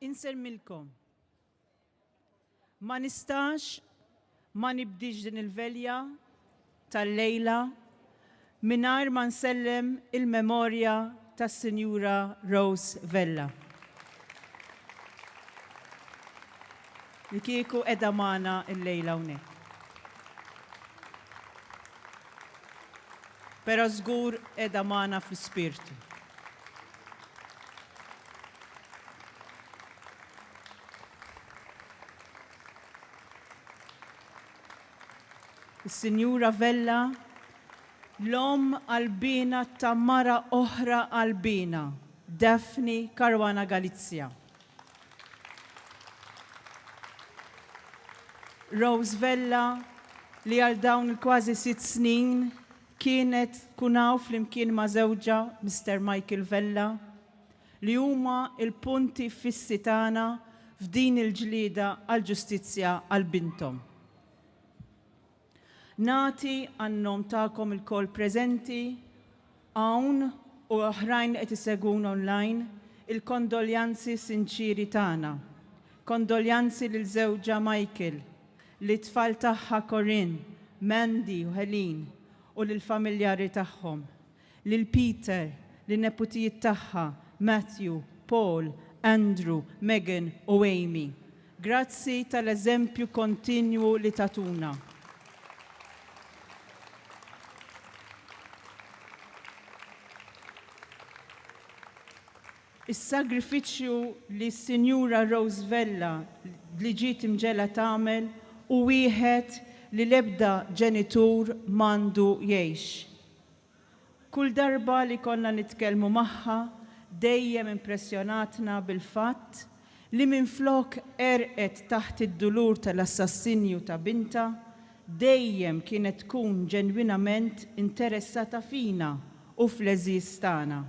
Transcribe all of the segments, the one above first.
Insemmilkom. Ma nistax ma nibdix din il-velja tal-lejla mingħajr ma nsellem il-memorja tas-Sinjura Rose Vella. li kieku qiegħda magħna llejla hawnhekk. Però żgur qiegħda magħna fl-ispirtu. Is-Sinjura Vella, l-omm qalbiena ta' mara oħra qalbiena, Daphne Caruana Galizia. Rose Vella li għal dawn il-kważi sitt snin kienet tkun hawn flimkien ma' żewġha Mister Michael Vella li huma l-punti fissi tagħna f'din il-ġlieda għall-ġustizzja għal binthom. Nagħti għan-nom tagħkom ilkoll preżenti hawn u oħrajn li qed isegwun online il-kondoljanzi sinċieri tagħna. Kondoljanzi lil żewġha Michael, lit-tfal tagħha Corinne, Mandy u Helene u lill-familjari tagħhom. lil Peter, lin-neputijiet tagħha, Matthew, Paul, Andrew, Megan u Amy. Grazzi tal-eżempju kontinwu li tagħtuna. Is-sagrifiċċju li s-Sinjura Rose Vella li ġiet imġegħla tagħmel hu wieħed li l-ebda ġenitur m'għandu jgħix. Kull darba li konna nitkellmu magħha dejjem impressjonatna bil-fatt li minflok għerqet taħt id-dulur tal-assassinju ta' bintha, dejjem kienet tkun ġenwinament interessata fina u fl-għeżież tagħna.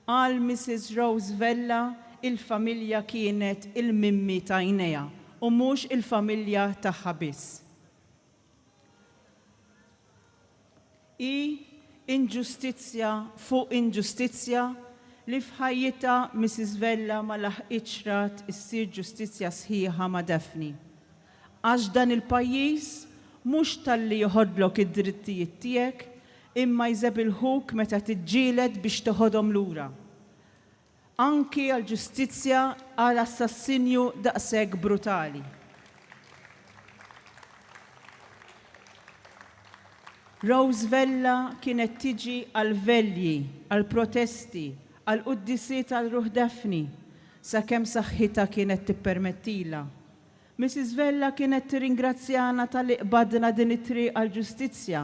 Għal Missis Rose Vella il-familja kienet il-mimmi t'għajnejha u mhux il-familja tagħha biss. Hi inġustizzja fuq inġustizzja li f'ħajjitha Mrs. Vella ma laħqitx rat issir ġustizzja sħiħa ma' Daphne. Għax dan il-pajjiż mhux talli joħodlok id-drittijiet tiegħek imma jżebilħuk meta tiġġieled biex teħodhom lura. Anki għal ġustizzja għal assassinju daqshekk brutali. Rose Vella kienet tiġi għal velji, għal protesti, għal quddisiet għal ruħ Daphne, sakemm saħħitha kienet tippermettilha. Missis Vella kienet tirringrazzjana talli qbadna din it-triq għall-ġustizzja,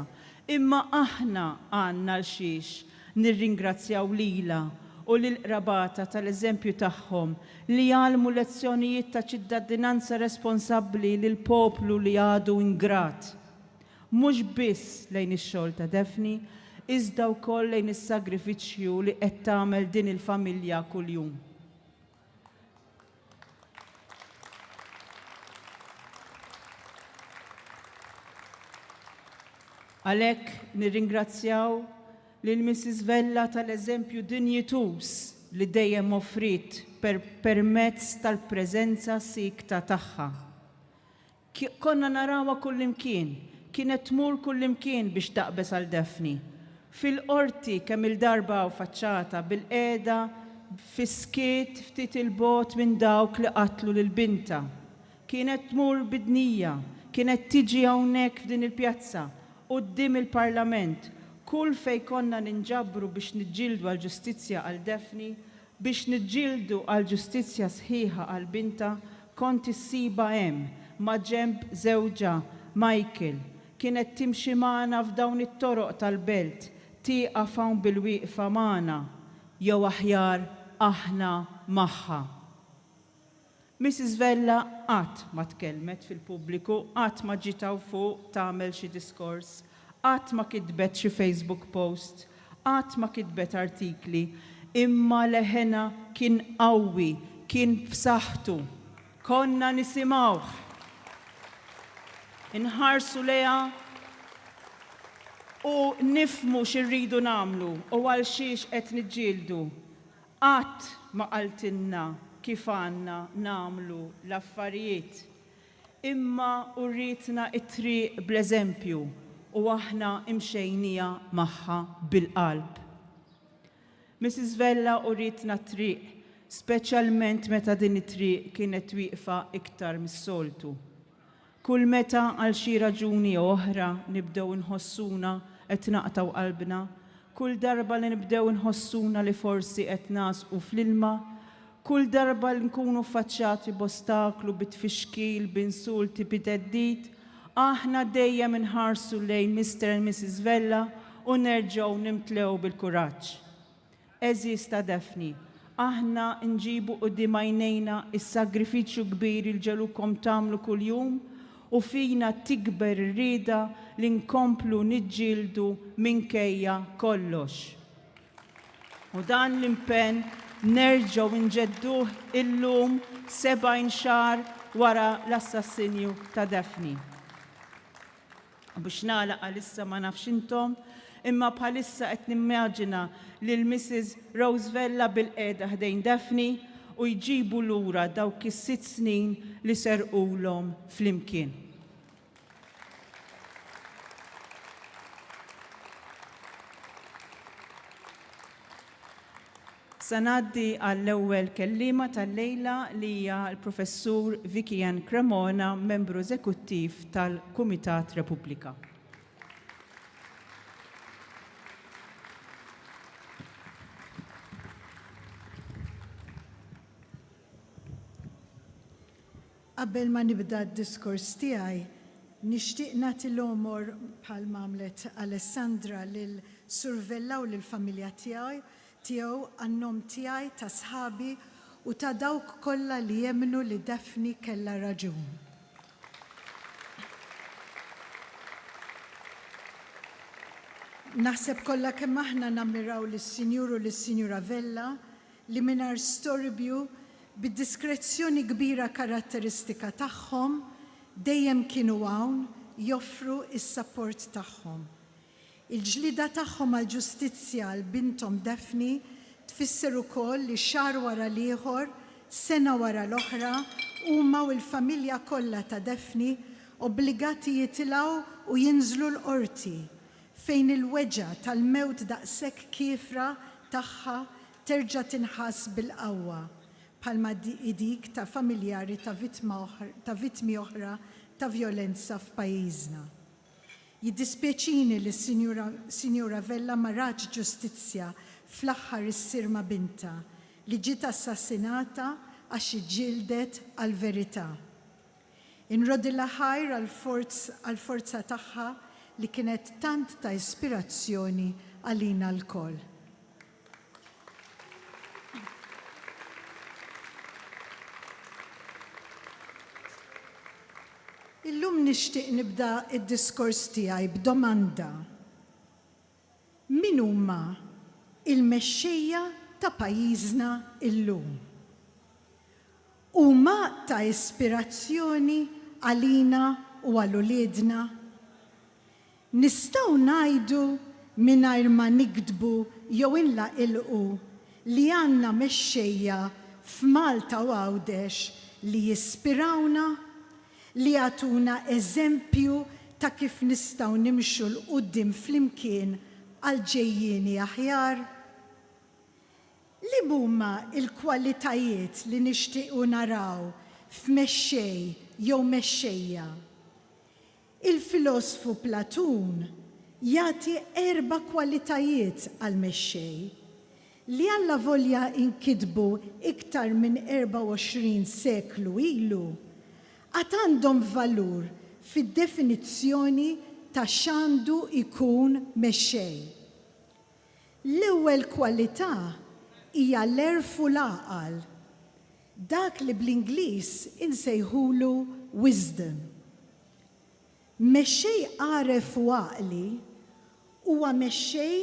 imma aħna għandna għalxiex nirringrazzjaw lilha u lil qrabatha tal-eżempju tagħhom li għallmu lezzjonijiet ta' ċittadinanza responsabbli lil poplu li għadu ingrat mhux biss lejn ix-xogħol ta' Daphne iżda wkoll lejn is-sagrifiċċju li qed tagħmel din il-familja kuljum. Għalhekk nirringrazzjaw lil Mrs. Vella tal-eżempju dinjituż li dejjem offriet per permezz tal-preżenza siekta tagħha. Konna narawha kullimkien, kienet tmur kullimkien biex taqbeż għal Daphne. Fil-qorti kemm-il darba hawn faċċatha, bilqiegħda, fis-skiet, ftit 'il bogħod minn dawk li qatlu lil bintha. Kienet tmur bid-dnija, kienet tiġi hawnhekk f'din il-pjazza, quddiem il-Parlament, kull fejn konna ninġabru biex niġġieldu għall-ġustizzja għal Daphne, Biex niġġieldu għal ġustizzja sħiħa għal bintha, kont issibha hemm, maġenb żewġha, Michael. Kienet timxi magħna f'dawn it-toroq tal-belt, tieqaf hawn bilwieqfa magħna. Jew aħjar, aħna magħha. Mrs Vella qatt ma tkellmet fil-pubbliku, qatt ma ġiet hawn fuq tagħmel xi diskors, qatt ma kitbet xi Facebook post, qatt ma kitbet artikli, imma leħenha kien qawwi, kien b'saħħtu. Konna nisimgħuh. Inħarsu lejha u nifhmu xi rridu nagħmlu u għalxiex qed niġġieldu. Qatt ma qaltilna kif għandna nagħmlu l-affarijiet, imma urietna t-triq bl-eżempju u aħna mxejnija magħha bil-qalb. Missis Vella urietna t-triq, speċjalment meta din it-triq kienet wieqfa iktar mis-soltu. Kull meta għal xi raġuni jew oħra nibdew inħossuna qed naqtgħu qalbna, kull darba li nibdew inħossuna li forsi qed nagħżqu fl-ilma, kull darba li nkunu ffaċċati b'ostaklu, bi tfixkil, b'insulti, bi theddid, aħna dejjem inħarsu lejn Mister and Missis Vella u nerġgħu nimtlew bil-kuraġġ. Għeżież ta' Daphne, aħna nġibu quddiem għajnejna s-sagrifiċċju kbir li l-ġelukkom tagħmlu kuljum u fina tikber ir-rieda li nkomplu niġġieldu minkejja kollox. U dan l-impenn nerġgħu nġedduh illum 70 xahar wara l-assassinju ta' Daphne. Biex nagħlaq għalissa ma nafx intom, imma bħalissa qed nimmaġina lil Mrs. Rose Vella bilqiegħda ħdejn Daphne u jġibu lura dawk is-sitt snin li serqulhom flimkien. Se ngħaddi għall-ewwel kelliema tal-lejla li hija l-Professur Vicky Ann Cremona, Membru Eżekuttiv tal-Kumitat Repubblika. Qabel ma nibda d-diskors tiegħi, nixtieq nagħti l-għomor bħalma għamlet Alessandra lil Sur Vella u lill-familja tiegħu tiegħu għan-nom tiegħi, ta' sħabi u ta' dawk kollha li emmnu li Daphne kellha raġun. Naħseb kollha kemm aħna nammiraw lis-Sinjur u lis-Sinjura Vella li mingħajr storbju, bid-diskrezzjoni kbira karatteristika tagħhom, dejjem kienu hawn joffru s-sapport tagħhom. Il-ġlieda tagħhom għall-ġustizzja għal binthom Daphne tfisser ukoll li xahar wara l-ieħor, sena wara l-oħra, huma u l-familja kollha ta' Daphne obbligati jitilgħu u jinżlu l-Qorti, fejn il-weġgħa tal-mewt daqshekk kiefra tagħha terġa' tinħass bil-qawwa, bħalma hi dik ta' familjari ta' vittmi oħra ta' vjolenza f'pajjiżna. Jiddispjaċini li s-Sinjura Vella ma ratx ġustizzja fl-aħħar issir ma' bintha li ġiet assassinata għax hi ġġieldet għall-verità. Inrodilha ħajr għall-forza tagħha li kienet tant ta' ispirazzjoni għalina lkoll. Illum nixtieq nibda d-diskors tiegħi b'domanda, Min huma l-mexxejja ta' pajjiżna llum? Huma ta' ispirazzjoni għalina u għal uliedna? Nistgħu ngħidu mingħajr ma niktbu jew inlaqilqu li għandna mexxejja f'Malta u Għawdex li jispirawna, li jagħtuna eżempju ta' kif nistgħu nimxu 'l quddiem flimkien għal ġejjieni aħjar? Liemhuma l-kwalitajiet li nixtiequ naraw f'mexxej jew mexxejja? Il-filosfu Platun jagħti erba' kwalitajiet għal mexxej, li allavolja inkitbu iktar minn 24 seklu ilu, għad għandhom valur fid-definizzjoni ta' x'għandu jkun mexxej. L-ewwel kwalità hija l-għerf u l-għaqal. Dak li bl-Ingliż insejħulu wisdom. Mexxej għaref u għaqli huwa mexxej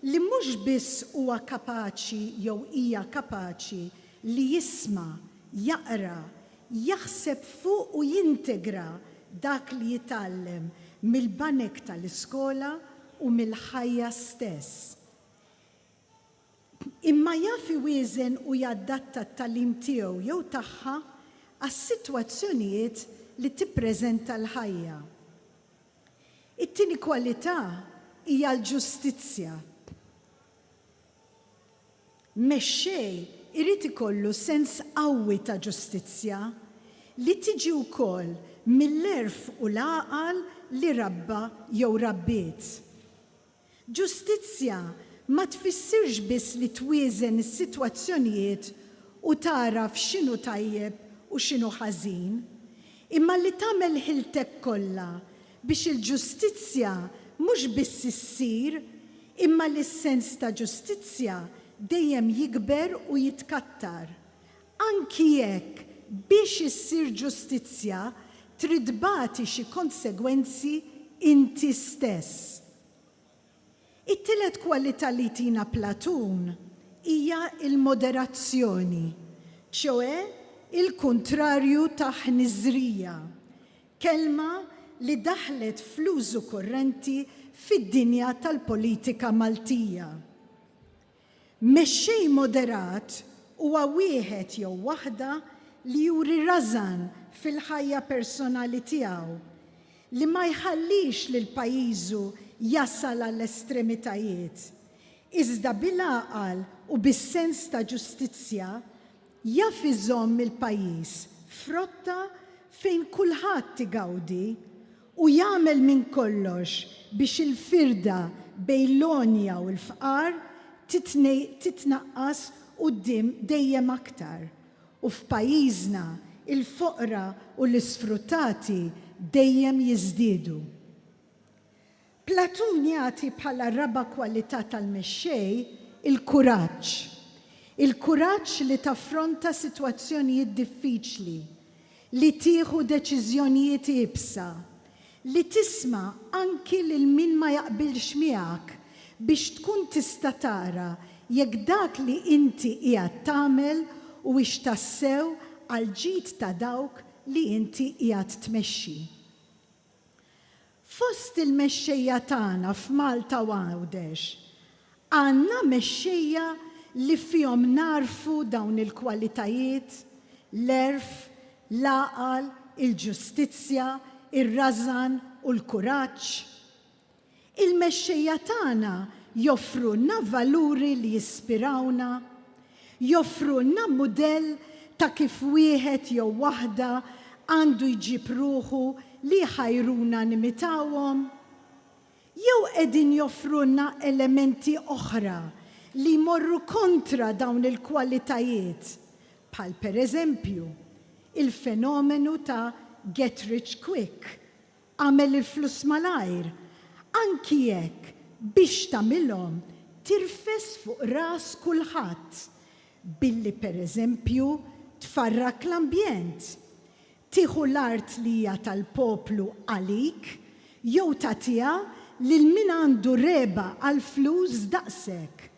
li mhux biss huwa kapaċi jew hija kapaċi li jisma', jaqra, jaħseb fuq u jintegra dak li jitgħallem mill-banek tal-iskola u mill-ħajja stess. imma jaf iwieżen u jadatta t-tagħlim tiegħu jew tagħha għas-sitwazzjonijiet li tippreżenta l-ħajja. It-tieni kwalità hija l-ġustizzja. Mexxej irid ikollu sens qawwi ta' ġustizzja, li tiġi wkoll mill-għerf u l-għaqal li rabba jew rabbiet. Ġustizzja ma tfissirx biss li twieżen is-sitwazzjonijiet u tagħraf x'inhu tajjeb u x'inhu ħażin, imma li tagħmel ħiltek kollha biex il-ġustizzja mhux biss issir imma li s-sens ta' ġustizzja dejjem jikber u jitkattar. anki jekk biex issir ġustizzja trid bagħti xi konsegwenzi inti stess. It-tielet kwalità li jtina Platun hija l-moderazzjoni, ċoè il-kuntrarju ta' ħniżrija, kelma li daħlet fl-użu kurrenti fid-dinja tal-politika Maltija. Mexxej moderat huwa wieħed jew waħda li juri rażan fil-ħajja personali tiegħu, li ma jħallix lil pajjiżu jasal għall-estremitajiet, iżda bil-għaqal u bis-sens ta' ġustizzja jaf iżomm il-pajjiż f'rotta fejn kulħadd igawdi u jagħmel minn kollox biex il-firda bejn l-għonja u l-fqar titnaqqas quddiem dejjem aktar, u f'pajjiżna l-foqra u l-isfruttati dejjem jiżdiedu. Platun jagħti bħala raba' kwalità tal-mexxej il-kuraġġ. Il-kuraġġ li taffronta sitwazzjonijiet diffiċli, li tieħu deċiżjonijiet iebsa, li tisma' anki lil min ma jaqbilx miegħek biex tkun tista' tara jekk dak li inti qiegħed tagħmel huwiex tassew għall-ġid ta' dawk li inti qiegħed tmexxi. Fost il-mexxejja tagħna f'Malta u Għawdex, għandna mexxejja li fihom nagħrfu dawn il-kwalitajiet, l-għerf, l-għaqal, il-ġustizzja, ir-rażan u l-kuraġġ? Il-mexxejja tagħna joffrulna valuri li jispirawna, joffrulna mudell ta' kif wieħed jew waħda għandu jġib ruħu li jħajruna nimitawhom? Jew qegħdin joffrulna elementi oħra li jmorru kontra dawn il-kwalitajiet, bħal pereżempju, il-fenomenu ta' get rich quick, Agħmel il-flus malajr, anki jekk biex tagħmilhom tirfes fuq ras kulħadd, billi pereżempju tfarrak l-ambjent, tieħu l-art li hija tal-poplu għalik jew tagħtiha lil min għandu regħba għall-flus daqsek.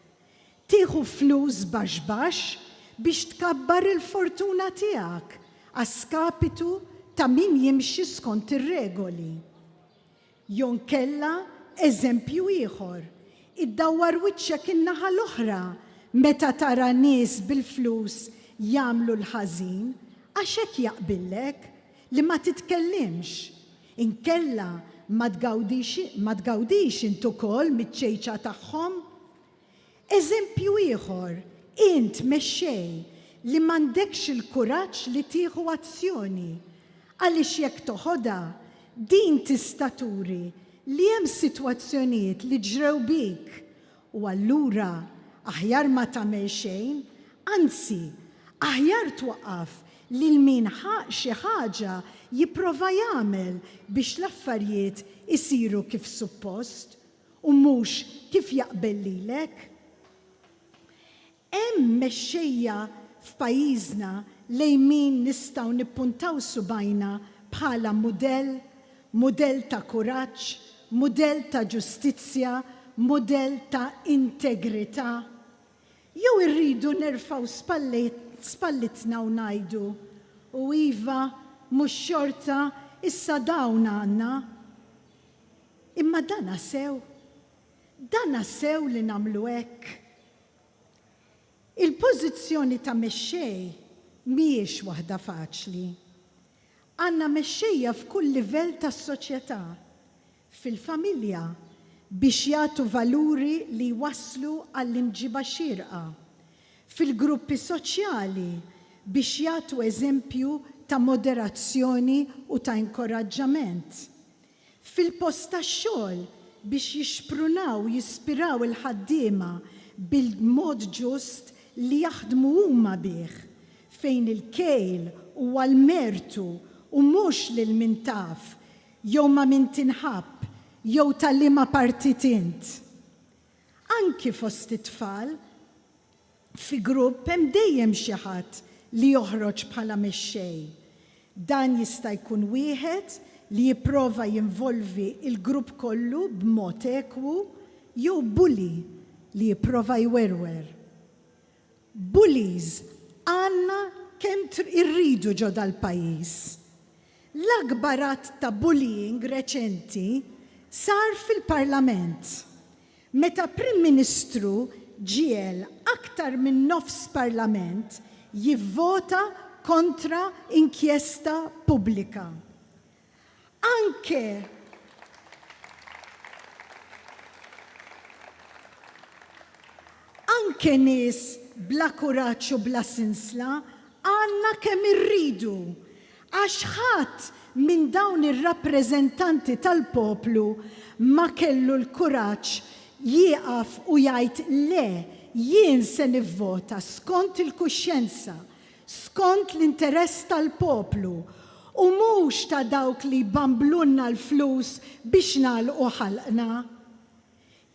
Tieħu flus baxx baxx biex tkabbar il-fortuna tiegħek a skapitu ta' min jimxi skont ir-regoli. Jew inkella eżempju ieħor, iddawwar wiċċek in-naħa l-oħra meta tara nies bil-flus jagħmlu l-ħażin għax hekk jaqbillek li ma titkellimx Inkella ma tgawdix ma tgawdix int ukoll miċ-ċejċa tagħhom? Eżempju ieħor, int mexxej li m'għandekx il-kuraġġ li tieħu azzjoni, għaliex jekk toħodha, din tista' turi li hemm sitwazzjonijiet li ġrew bik U allura aħjar ma tagħmel xejn, anzi, aħjar twaqqaf lil min ħa xi ħaġa jipprova jagħmel biex l-affarijiet isiru kif suppost, u mhux kif jaqbel lilek. Hemm mexxejja f'pajjiżna lejn min nistgħu nippuntaw subgħajna bħala mudell, mudell ta' kuraġġ, mudell ta' ġustizzja, mudell ta' integrità? Jew irridu nerfgħu spallitna u ngħidu, U iva, mhux xorta, issa dawn għandna? Imma dana sew? Dana sew li nagħmlu hekk? Il-pożizzjoni ta' mexxej mhijiex waħda faċli. Għandna mexxejja f'kull livell tas-soċjetà, fil-familja biex jagħtu valuri li jwasslu għall-imġiba xierqa, fil-gruppi soċjali biex jagħtu eżempju ta' moderazzjoni u ta' inkoraġġament, fil-post tax-xogħol biex jixprunaw u jispiraw il-ħaddiema bil-mod ġust li jaħdmu huma bih, fejn il-kejl huwa l-mertu u mhux lil min taf jew ma' min tinħabb jew ta' liema partit int. Anki fost it-tfal, Fi grupp hemm dejjem xi ħadd li joħroġ bħala mexxej. Dan jista' jkun wieħed li jipprova jinvolvi l-grupp kollu b'mod ekwu jew bully li jipprova jwerwer. Bullies għandna kemm irridu ġo dal-pajjiż. L-akbar att ta' bullying reċenti sar fil-Parlament, meta Prim Ministru ġiegħel aktar minn nofs Parlament jivvota kontra inkjesta pubblika. Anke anke nies bla kuraġġ u bla sinsla għandna kemm irridu Għax ħadd minn dawn ir-rappreżentanti tal-poplu ma kellu l-kuraġġ jieqaf u jgħid le, jien se nivvota skont il-kuxjenza, skont l-interess tal-poplu, u mhux ta' dawk li jbamblulna l-flus biex nagħlqu ħalqna.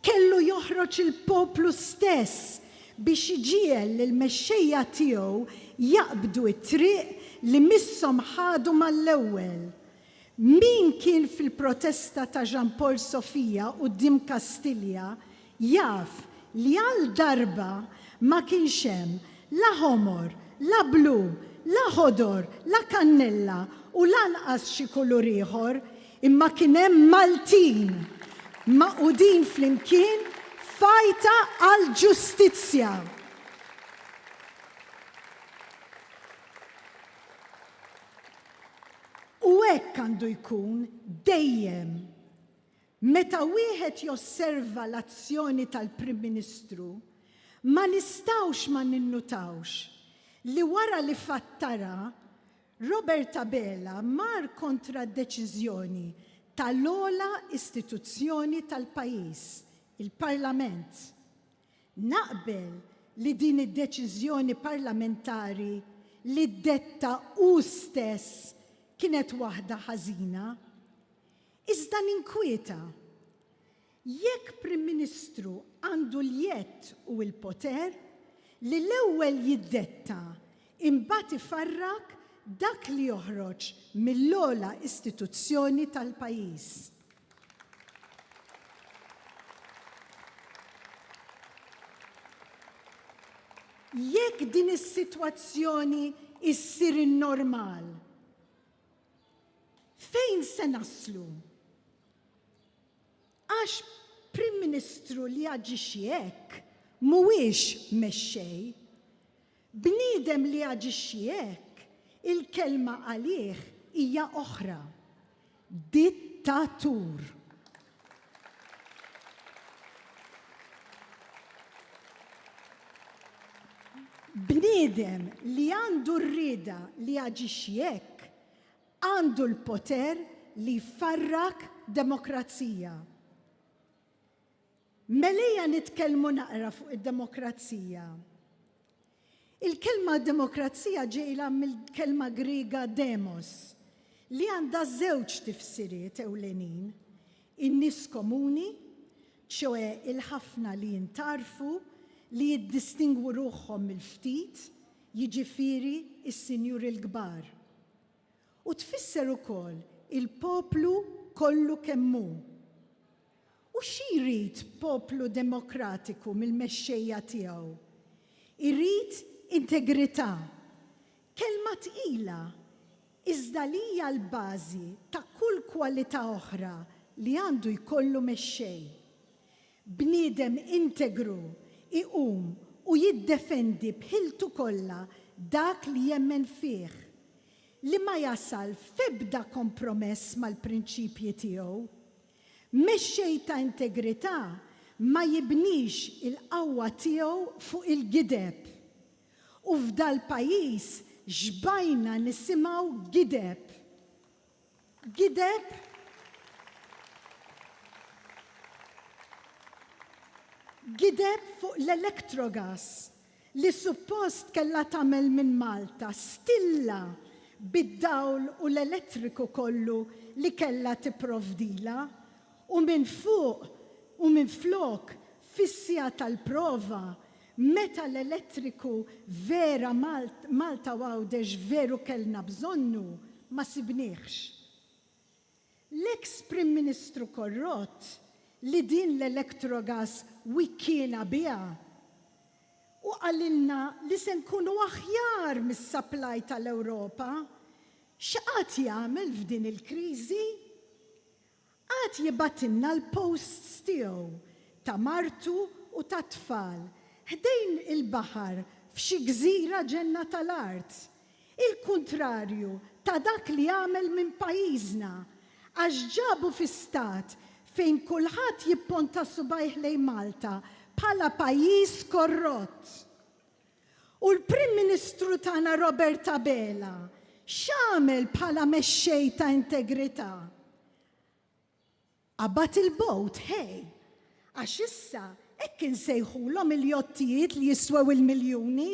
Kellu joħroġ il-poplu stess biex iġiegħel lill-mexxejja tiegħu jaqbdu t-triq li misshom ħadu mal-ewwel. Min kien fil-protesta ta' Jean Paul Sofia quddiem Kastilja jaf li għal darba ma kienx hemm la ħomor, la blu, la ħodor, la kannella u lanqas xi kulur ieħor, Imma kien hemm Maltin magħqudin flimkien f'għajta għall-ġustizzja. U hekk għandu jkun dejjem. Meta wieħed josserva l-azzjoni tal-Prim Ministru, ma nistgħux ma ninnutawx li wara li fattara Robert Abela mar kontra d-deċiżjoni tal-ogħla istituzzjoni tal-pajjiż, il-Parlament. Naqbel li din id-deċiżjoni parlamentari li ddetta hu stess kienet waħda ħażina. Iżda ninkwieta. Jekk Prim Ministru għandu l-jedd u l-poter li l-ewwel jiddetta imbagħad ifarrak dak li joħroġ mill-ogħla istituzzjoni tal-pajjiż. Jekk din is-sitwazzjoni ssir in-normal, fejn se naslu? Għax Prim Ministru li jaġixxi hekk mhuwiex mexxej. Bniedem li jaġixxi hekk, il-kelma għalih hija oħra, dittatur. Bniedem li għandu r-rieda li jaġixxi hekk, Għandu l-poter li jfarrak demokrazija. Mela ejja nitkellmu naqra fuq id-demokrazija. Il-kelma demokrazija ġejla mill-kelma Griega demos, li għandha żewġ tifsiriet ewlenin, in-nies komuni, ċoe il-ħafna li jintarfu, li jiddistingwu ruħhom mill-ftit, jiġifieri s-sinjuri l-kbar. U tfisser ukoll il-poplu kollu kemm hu. U xi jrid poplu demokratiku mill-mexxejja tiegħu? Irid integrità. Kelma tqila, iżda li hija l-bażi ta' kull kwalità oħra li għandu jkollu mexxej. Bniedem integru iqum u jiddefendi b'ħiltu kollha dak li jemmen fih, li ma jasal f'ebda kompromess mal-prinċipji tiegħu. Mexxej ta' integrità ma jibnix il-qawwa tiegħu fuq il-gideb. U f'dal-pajjiż xbajna nisimgħu gideb! Gideb Gideb fuq l-Electrogas li suppost kellha tagħmel minn Malta stilla bid-dawl u l-elettriku kollu li kellha tipprovdilha u minfuq u minflok fis-siegħa tal-prova Meta l-elettriku vera Malta u Għawdex veru kellna bżonnu, ma sibniehx. L-eks Prim Ministru korrott li din l-Electrogas wikkiena biha u qalilna li se nkunu aħjar mis-supply tal-Ewropa, x'qagħad jagħmel f'din il-kriżi? Qagħad jibgħatilna l-posts tiegħu, ta' martu u tat-tfal, ħdejn il-baħar f'xi gżira ġenna tal-art. Il-kuntrarju ta' dak li għamel minn pajjiżna, għax ġabu fi stat fejn kulħadd jipponta subajh lejn Malta bħala pajjiż korrott. U l-Prim Ministru tagħna Robert Abela x'għamel bħala mexxej ta' integrità? Qabad il-bowt, ħej! Għax issa hekk insejħulhom il-jottijiet li jiswew il-miljuni.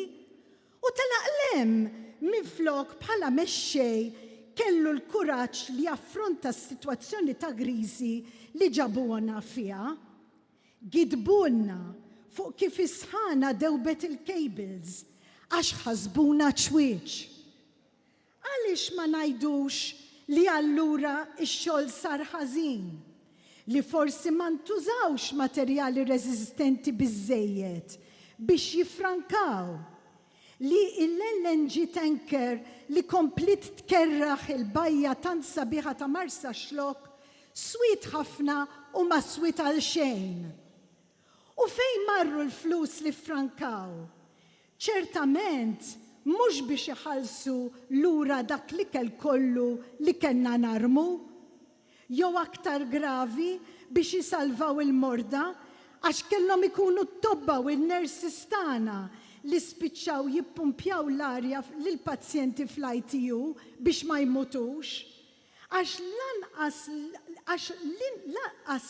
U telaq 'l hemm minflok bħala mexxej kellu l-kuraġġ li jaffronta s-sitwazzjoni ta' griżi li ġabuhna fiha. Gidbulna fuq kif is-sħana dewbet il-cables għax ħasbuna ċwieċ. Għaliex ma ngħidux li allura x-xogħol sar ħażin, li forsi ma ntużawx materjali reżistenti biżżejjed biex jiffrankaw? li l-LNG tanker li kompliet tkerraħ il-bajja tant sabiħa ta' Marsaxlokk swiet ħafna u ma swiet għal xejn. U fejn marru l-flus li ffrankaw? Ċertament mhux biex iħallsu lura dak l-ikel kollu li kellna narmu. jew aktar gravi, biex isalvaw il-morda, għax kellhom ikunu t-tobba u n-nurses tagħna li spiċċaw jippumpjaw l-arja lill-pazjenti fl-ITU biex ma jmutux. Għax lanqas għax lanqas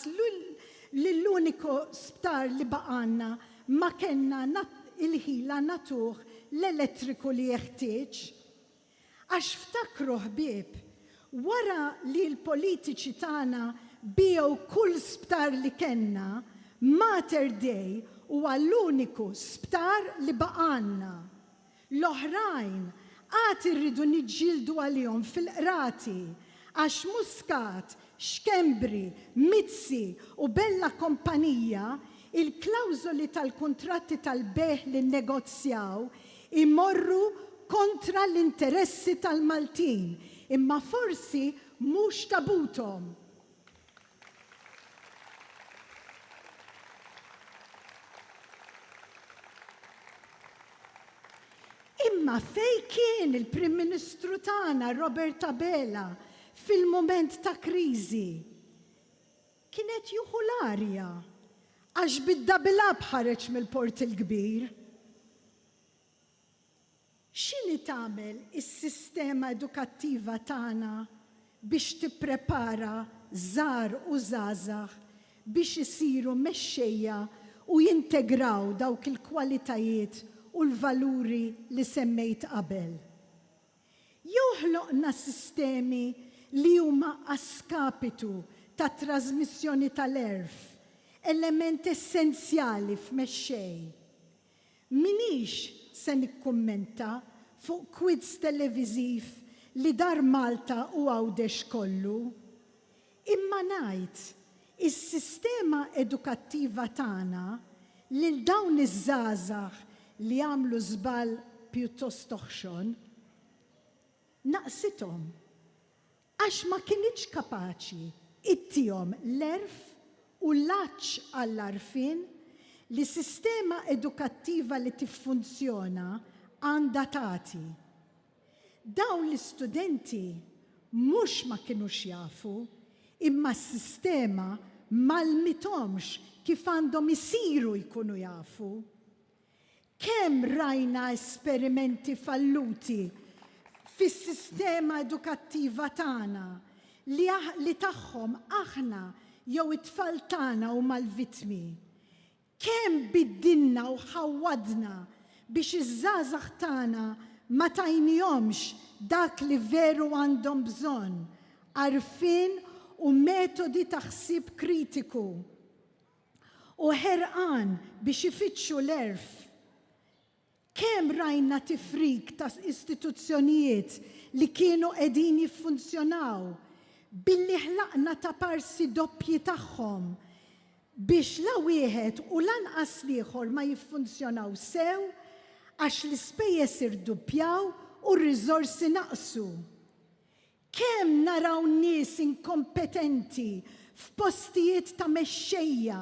lill-uniku sptar li baqgħalna ma kellna il-ħila nagħtuh l-elettriku li jeħtieġ. Għax ftakru ħbieb, wara li l-politiċi tagħna biegħu kull sptar li kellna, Mater Dei huwa l-uniku sptar li baqgħalna. L-oħrajn għad irridu niġġieldu għalihom fil-qrati għax Muscat, Schembri, Mizzi u Bella Kompanija, il-klawżoli tal-kuntratti tal-bejgħ li nnegozjaw Imorru kontra l-interessi tal-Maltin, imma forsi mhux ta' buthom. Imma fejn kien il-Prim Ministru tagħna Robert Abela fil-mument ta' kriżi? Kien qed jieħu l-arja, għax bid-double up ħareġ mill-Port il-Kbir. X'inhi tagħmel is-sistema edukattiva tagħna biex tipprepara żgħar u żgħażagħ biex isiru mexxejja u jintegraw dawk il-kwalitajiet u l-valuri li semmejt qabel? Jew ħloqna sistemi li huma a skapitu tat-trażmissjoni tal-għerf, element essenzjali f'mexxej. M'iniex se nikkummenta fuq quiz televiżiv li dar Malta u Għawdex kollu. Imma ngħid, is-sistema edukattiva tagħna lil dawn iż-żgħażagħ li għamlu żball pjuttost oħxon, naqqsithom. Għax ma kinitx kapaċi ittihom l-għerf u l-għatx għall-għarfien li sistema edukattiva li tiffunzjona għandha tagħti. Dawn l-istudenti mhux ma kinux jafu, imma s-sistema m'għallmithomx kif għandhom isiru jkunu jafu. Kemm rajna esperimenti falluti fis-sistema edukattiva tagħna li li tagħhom aħna jew it-tfal tagħna huma l-vittmi. Kemm biddilna u ħawwadna biex iż-żgħażagħ tagħna ma tajnihomx dak li veru għandhom bżonn, għarfien u metodi ta' ħsieb kritiku u ħerqan biex ifittxu l-għerf. Kemm rajna tifrik ta' istituzzjonijiet li kienu qegħdin jiffunzjonaw billi ħlaqna taparsi doppji tagħhom biex la wieħed u lanqas l-ieħor ma jiffunzjonaw sew għax l-ispejjeż irduppjaw u r-riżorsi naqsu. Kemm naraw nies inkompetenti f'postijiet ta' mexxejja,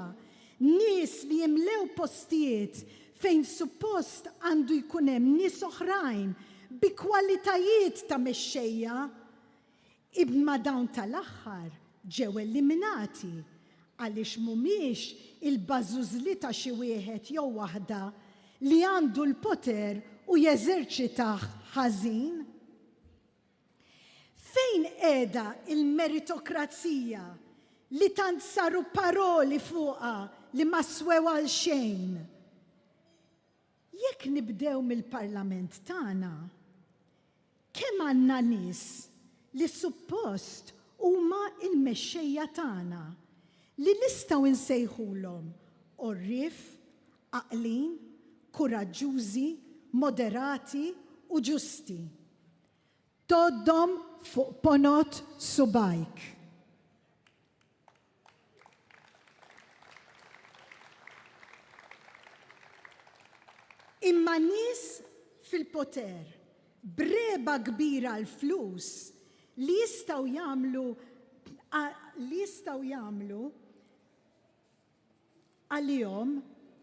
nies li jimlew postijiet fejn suppost għandu jkun hemm nies oħrajn bi kwalitajiet ta' mexxejja, imma dawn tal-aħħar ġew eliminati għaliex mhumiex il-bażużli ta' xi wieħed jew waħda li għandu l-poter u jeżerċitah ħażin? Fejn qiegħda l-meritokrazija li tant saru paroli fuqha li ma swew għal xejn? Jekk nibdew mill-Parlament tagħna, kemm għandna nies li suppost huma l-mexxejja tagħna li nistgħu nsejħulhom għorrief, għaqlin, kuraġġużi, moderati u ġusti? Tgħoddhom fuq ponot subgħajk. Imma nies fil-poter, b'regħba kbira għall-flus, li jistgħu jagħmlu li jistgħu jagħmlu għalihom,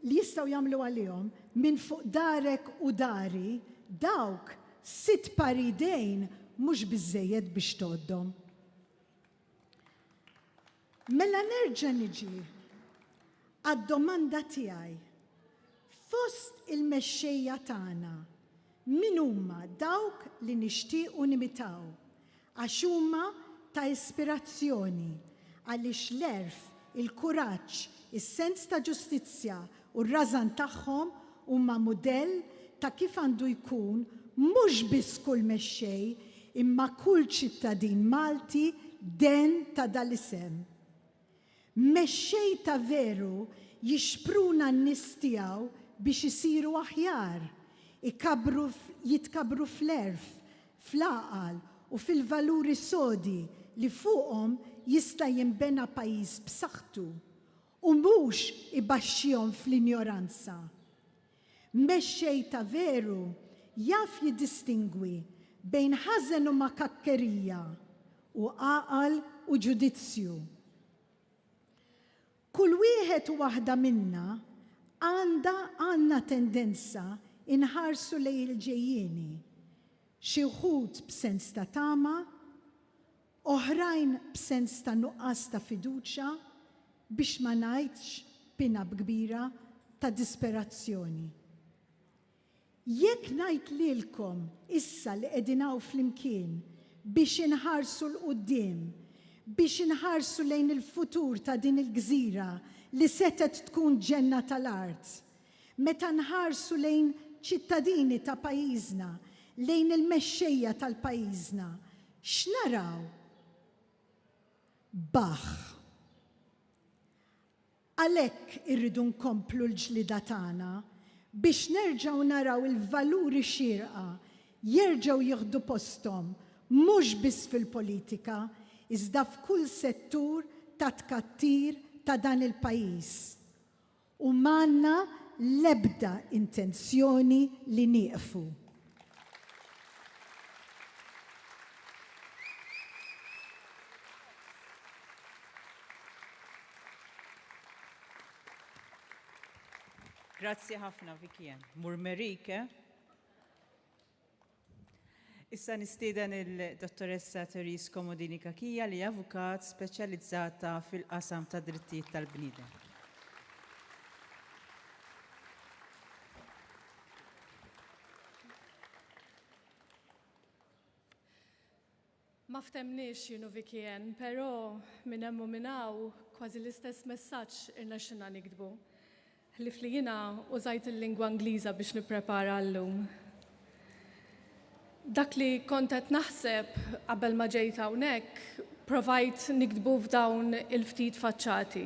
li jistgħu jagħmlu għalihom, minn fuq darek u dari, dawk, sitt pari idejn mhux biżżejjed biex tgħoddhom. Mela nerġa' niġi għad-domanda tiegħi, Fost il-mexxejja tagħna, min huma dawk li nixtiequ nimitaw? Għax huma ta' ispirazzjoni, għaliex l-għerf, il-kuraġġ, is-sens ta' ġustizzja u r-rażan tagħhom huma mudell ta' kif għandu jkun mhux biss kull mexxej, imma kull ċittadin Malti degħn ta' dal-isem. Mexxej ta' veru jixpruna n-nies tiegħu biex isiru aħjar, ikabbru jitkabbru fl-għerf, fl-għaqal u fil-valuri sodi li fuqhom jista' jinbena pajjiż b'saħħtu, u mhux ibaxxihom fl-injoranza. Mexxej ta' veru jaf jiddistingwi bejn ħażen u makakkerija u għaqal u ġudizzju. Kull wieħed u waħda minna għandha, għandna tendenza inħarsu lejn il-ġejjieni, xi wħud b'sens ta' tama, Oħrajn b'sens ta' nuqqas ta' fiduċja, biex ma ngħidx b'pin-up kbira ta' disperazzjoni. Jekk ngħid lilkom issa li qegħdin hawn flimkien biex inħarsu 'l quddiem, biex inħarsu lejn il-futur ta' din il-gżira li setgħet tkun ġenna tal-art, meta nħarsu lejn ċittadini ta' pajjiżna, lejn il-mexxejja tal-pajjiżna, X'naraw? Baħħ! Għalhekk irridu nkomplu l-ġlieda tagħna biex nerġgħu naraw il-valuri xierqa jerġgħu jieħdu posthom mhux biss fil-politika iżda f'kull settur tat-tkattir ta' dan il-pajjiż. u m'għandna l-ebda intenzjoni li nieqfu. Grazzi ħafna Vicky Anne. Murmerike. Issa nistieden il-Dottoressa Therese Comodini Cachia li avukat speċjalizzata fil-qasam tad-drittijiet tal-bniedem. Ma ftemniex jien u Vicky Anne, però minn hemm u minn hawn kważi l-istess messaġġ irnexxilna niktbu. Ħlief li jiena użajt il-lingwa Ingliża biex nipprepara għal-lum. Dak li kont qed naħseb qabel ma ġejt hawnhekk provajt niktbu f'dawn il-ftit faċċati.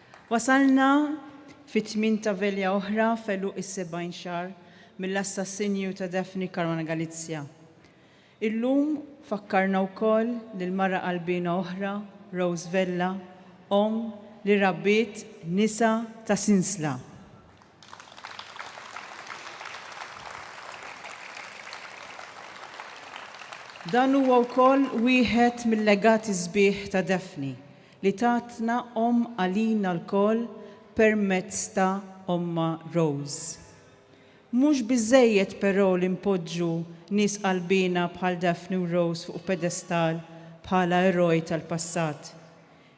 Wasalna fit-tmien ta' velja oħra f'għeluq is-70 xahar mill-assassinju ta' Daphne Caruana Galizia. Illum fakkarna wkoll lil mara qalbiena oħra, Rose Vella, omm li rabbiet nisa ta' sinsla. Dan huwa wkoll wieħed mil-legati sbieħ ta' Daphne li tatna omm għalina lkoll permezz ta' ommha Rose. Mhux biżżejjed però li npoġġu nies qalbiena bħal Daphne u Rose fuq pedestall bħala eroj tal-passat.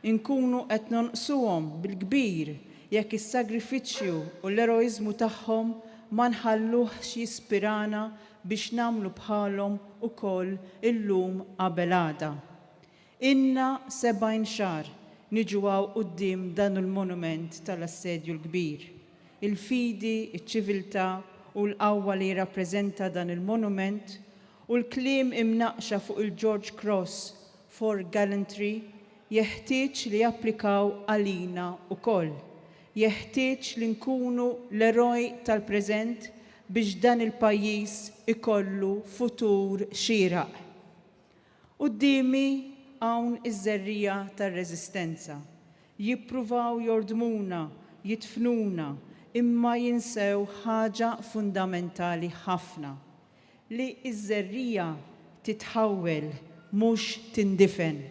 Inkunu qed nonqsuhom bil-kbir jekk is-sagrifiċċju u l-eroiżmu tagħhom ma nħalluhx jispirana biex nagħmlu bħalhom ukoll illum qabel għada. Ilna sebgħin xahar niġu hawn quddiem dan l-monument tal-Assedju l-Kbir. Il-fidi, iċ-ċiviltà u l-qawwa li jirrappreżenta dan il-monument u l-kliem imnaqqxa fuq il-George Cross for Gallantry jeħtieġ li japplikaw għalina wkoll. Jeħtieġ li nkunu l-eroj tal-preżent biex dan il-pajjiż ikollu futur xieraq. Quddiemi hawn iż-żerriegħa tar-reżistenza. Jippruvaw jordmuna, jidfnuna, imma jinsew ħaġa fundamentali ħafna, li ż-żerriegħa titħawwel mhux tindifen,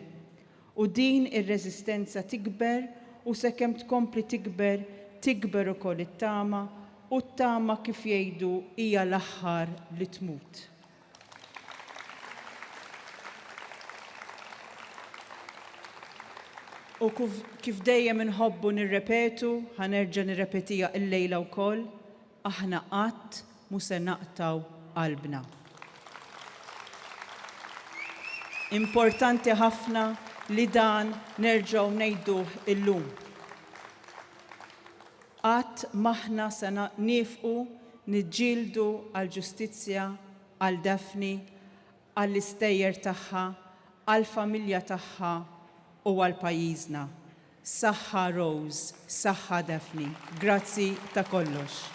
u din ir-reżistenza tikber u sekemm tkompli tikber, tikber ukoll it-tama u t-tama kif jgħidu hija l-aħħar li tmut. U kif dejjem inħobbu nirrepetu, ħa nerġa' nirrepetiha illejla wkoll, Aħna qatt mhu se naqtgħu qalbna. Importanti ħafna li dan nerġgħu ngħiduh illum. Qatt m'aħna se niefqu niġġieldu għall-ġustizzja għal Daphne, għall-istejjer tagħha, għall-familja tagħha u għal pajjiżna. Saħħa Rose, saħħa Daphne. Grazzi ta' kollox.